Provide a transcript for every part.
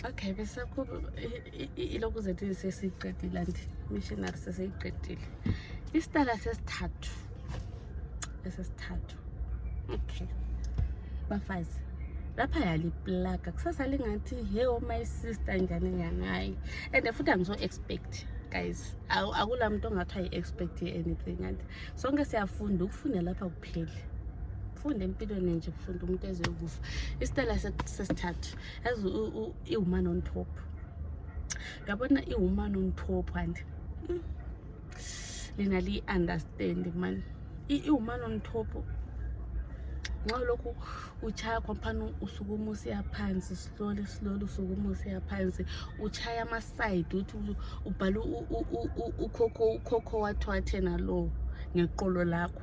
Okay, bese ku ilokhu zethu sesiqedile and missionary sesiyiqedile. Isitala sesithathu. Esesithathu. Okay. Bafazi. lapha yaliplaga kusasa lingathi he oh my sister njani njani hayi and futhi angizo-expect guys akula muntu ongathi ayi-expect anything and sonke siyafunda ukufunda lapha akupheli funda empilweni nje funda umuntu ezokufa isitela sesithathu as iwoman on top yabona iwoman on top and hmm, lina liyi-understand mani iwoman on top nxa lokhu utshaya khompani usukuma usiya phansi slowly slowly usukuma usiya phansi utshaya amaside uthi ubhale ukhokho wathi wathena lowo ngeqolo lakho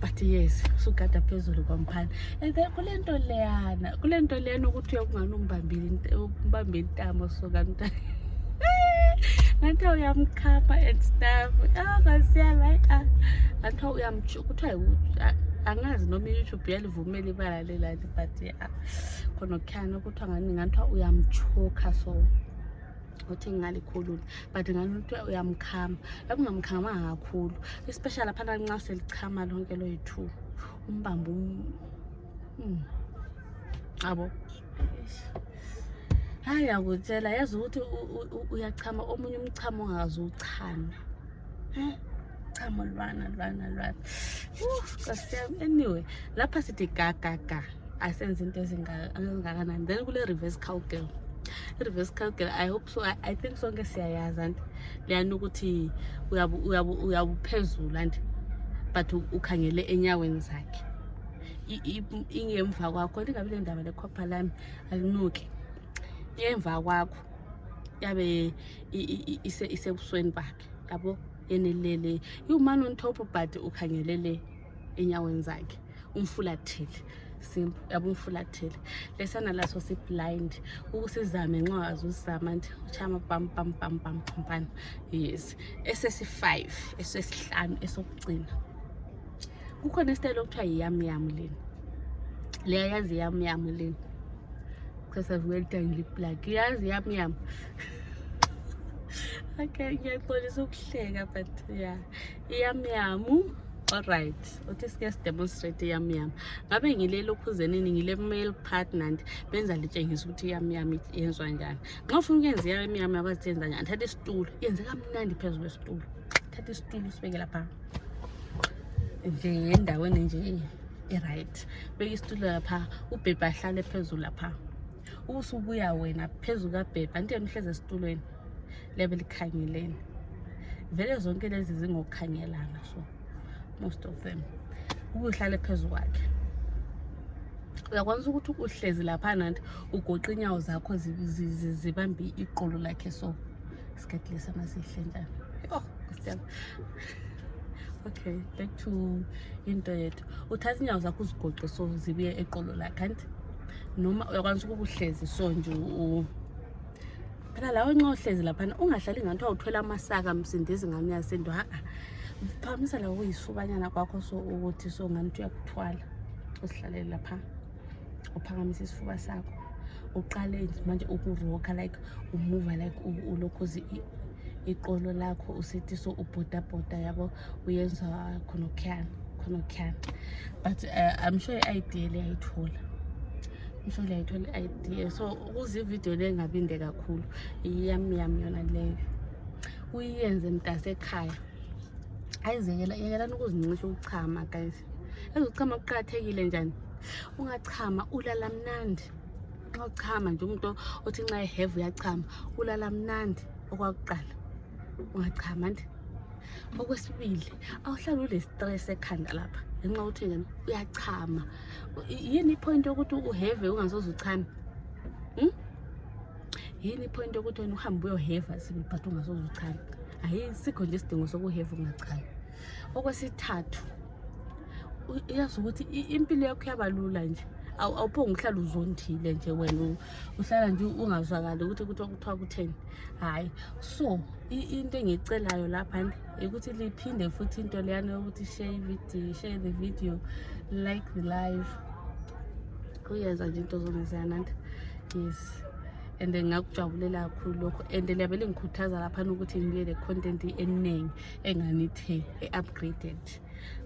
but yes usugada phezulu kwamphana and then kule nto leyana kule nto leyana ukuthi uyakungani umbambile umbambe intamo suka mntana ngathi uyamkhapha and stuff ah kwasiyala hayi ah ngathi uyamtsho kuthiwa ah, angazi noma i-youtube yalivumela ibala lelani but ya ah, khona okukhani kuthiwa ngani ngathiwa uyamtshoka so uthi ngingalikhulula but ngalutho uyamkhama lakungamkhama kakhulu especially aphana nxa selichama lonke loyi-two umbambo um abo hayi yakutshela yazi ukuthi uyachama omunye umchamo ongakazi uchame chamo lwana lwana lwana anyway lapha sithi gagaga asenze into ezingakanani then kule-reverse cow girl reverse calcul i hope so i, I think sonke siyayazi anti leyani ukuthi uyabuphezulu anti but ukhangele enyaweni zakhe ingemva kwakho ndingabi le ndaba lekhopha lami alinuki ingemva kwakho yabe isebusweni bakhe yabo yenelele iwumane ontop but ukhangelele enyaweni zakhe umfulathele simple yabo umfulathele lesana laso siblind ukusizame nxa azuzama nti uchama pam pam pam pam phampana yes esesi-five esesihlanu esokugcina kukhona isitayile okuthiwa yiyamyamu leni leyayazi yamyamu leni sasavukelitangiliplak yazi yamyamu okay ngiyaxolisa ukuhleka but ya yeah. Yam yam. All right. Uthi sike sidemonstrate yam yam. Ngabe ngile lokhuzenini ngile male partner and benza litshengisa ukuthi yam yam yenzwa njani. Nxa ufuna ukwenza yam yam abazenza njani? Thatha isitulo. Yenze kamnandi phezulu kwesitulo. Thatha isitulo usibeke lapha. Nje endaweni nje e-right. Beka isitulo lapha, ubhebha ahlale phezulu lapha. ubusubuya wena phezu kabhebha nto nihlezi esitulweni liyabe likhangeleni vele zonke lezi zingokukhangelana so most of them ubuhlale phezu kwakhe uyakwanisa ukuthi uhlezi lapha nanti ugoqa inyawo zakho zibambe iqolo lakhe so isikhathi lesi amasihle njani yho okay back to into yethu uthatha inyawo zakho uzigoqe so zibuye eqolo lakhe anti noma uyakwanisa ukuba uhlezi so nje phela lawo nxa uhlezi laphana ungahlali ngathiwa uthwela amasaka msindezi ngami yasinto ha-a phamisa lawo kuyisubanyana kwakho so ukuthi so ngani uthi uyakuthwala uzihlalele lapha uphakamise isifuba sakho uqale manje ukuroka like umuva like ulokhu iqolo lakho usithi so ubhodabhoda yabo uyenza khonokhuyana khonokhuyana but uh, i'm sure i-idea le ayithola isho le ayithola i-idea so ukuze ividiyo le ngabinde kakhulu yami yami yona leyo uyenze mntase ekhaya ayizekelani ukuzincisha ukuchama guys yazi ukuchama kuqakathekile njani ungachama ulala mnandi nxa uchama nje umuntu othi nxa eheve uyachama ulala mnandi okwakuqala ungachama nje okwesibili awuhlali ule-stress ekhanda lapha ngenxa yokuthi njani uyachama yini ipoint yokuthi uheve ungasoze uchame hmm? yini ipoint yokuthi wena uhambe uyoheva sibili but ungasoze uchame ayi sikho nje isidingo sokuheva ungachami okwesithathu uyazi ukuthi impilo yakho yabalula nje awuphonge uhlala uzondile nje wena uhlala nje ungazwakali ukuthi kuthiwa kuthiwa kutheni hhayi so into engiyicelayo lapha ukuthi liphinde futhi into leyana yokuthi share ividiyo share the video like the live uyenza nje into zona ziyananda yes and then ngakujabulela kakhulu lokho and liyabe lingikhuthaza laphana ukuthi ngibe le-content eningi enganithe e-upgraded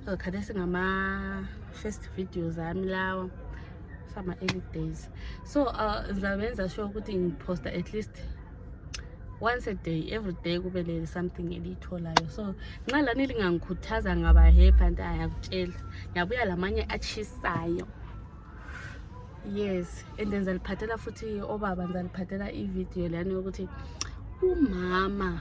so khathesi ngama first videos ami lawa sama early days so uh, ngizabenza sure ukuthi ngiphosta at least once a day every day kube le something eliyitholayo so nxa lani lingangikhuthaza ngaba happy anti ayakutshela ngiyabuya lamanye atshisayo yes and then ngizaliphathela futhi obaba ngizaliphathela ividiyo lani yokuthi umama